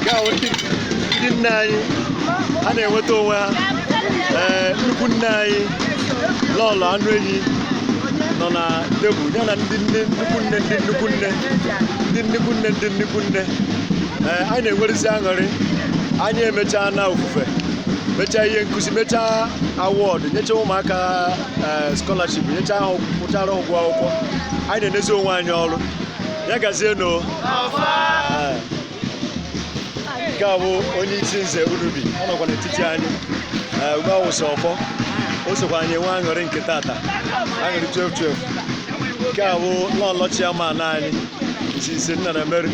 nke a wụ ndị ndị nne anyị ha na-enweta onwe ha ee nnukwu nne anyị lọlọ anụ enyi nọ na tebụl ya na ndị nne nnukwu nne ndị nnukwu nne ndị nnukwu nne ndị nnukwu nne ee anyị na-enwerezi aṅụrị anyị emechaana ofufe mechaa ihe nkụzi mechaa awọdụ nyechaa ụmụaka ee skọlaship nyechaa ha kwụchara ụgwọ akwụkwọ anyị na-enezi onwe anyị ọrụ ya gazie no nke a bụ onye isi nze Unubi ọ nọkwa n'etiti anyị ee, ugbu a wụsị ọfọ o sokwa anyị enwe aṅụrị nke tata aṅụrị 12 12 nke a bụ lọlọ chairman anyị isi isi nna na Mary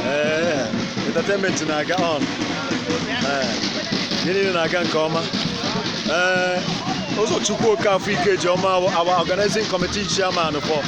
ee entertainment na-aga on ee ihe niile na-aga nke ọma ee ụzọchukwu okafọ ikeji ọma bụ our organizing committee chairman for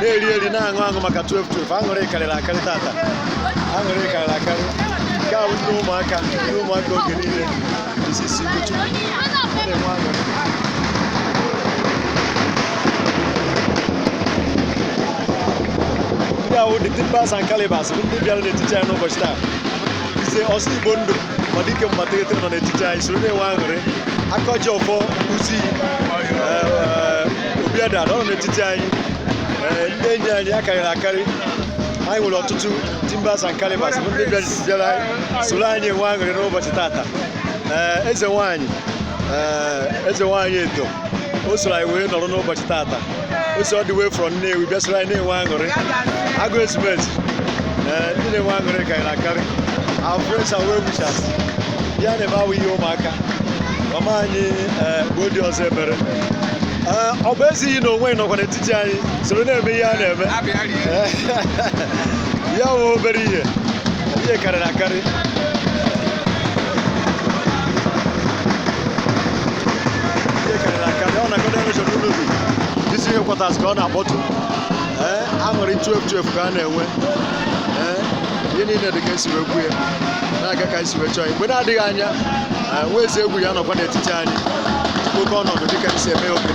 na-eri eri na-aṅụ aṅụ maka 12 12 aṅụrị karịrị akarị tata aṅụrị karịrị akarị nke a bụ ndị ụmụaka ndị ụmụaka oge niile isi si Ugochukwu na-enwe aṅụrị ndị a wụ the timbers and calibers bụ ndị bịara n'etiti anyị n'ụbọchị taa ise ọsọ igbo ndụ ma dike mgbategete nọ n'etiti anyị soro na-enwe aṅụrị aka ji ọfọ uzi obiada nọ n'etiti anyị ee, ndị enyi anyị akarịrị akarị anyị nwere ọtụtụ timbers and calibers bụ ndị bịara bịara anyị soro anyị enwe aṅụrị n'ụbọchị tata ee, eze nwaanyị ee, eze nwaanyị edo o soro anyị wee nọrọ n'ụbọchị tata o si all the way from Nnewi bịa soro anyị na-enwe aṅụrị agụ ezumezu ee ndị na-enwe aṅụrị karịrị akarị our friends and well wishers ihe a na-eme awụ ihe ụmụaka mama anyị ee mgbe dị ọzọ emere Ee, ọ bụ ezighị na onwe nọkwa n'etiti anyị soro na-eme ihe a na-eme awụ obere ihe ihe karịrị akarị isi headquarters ka ọ na-akpọtụ ee aṅụrị 12 ka a na-enwe ee ihe niile dị ka esi wee kwuo ya na-aga ka esi wee chọọ ya mgbe na-adịghị anya nwa eze egwu ya nọkwa n'etiti anyị oke ọnọdụ dịka esi eme oge niile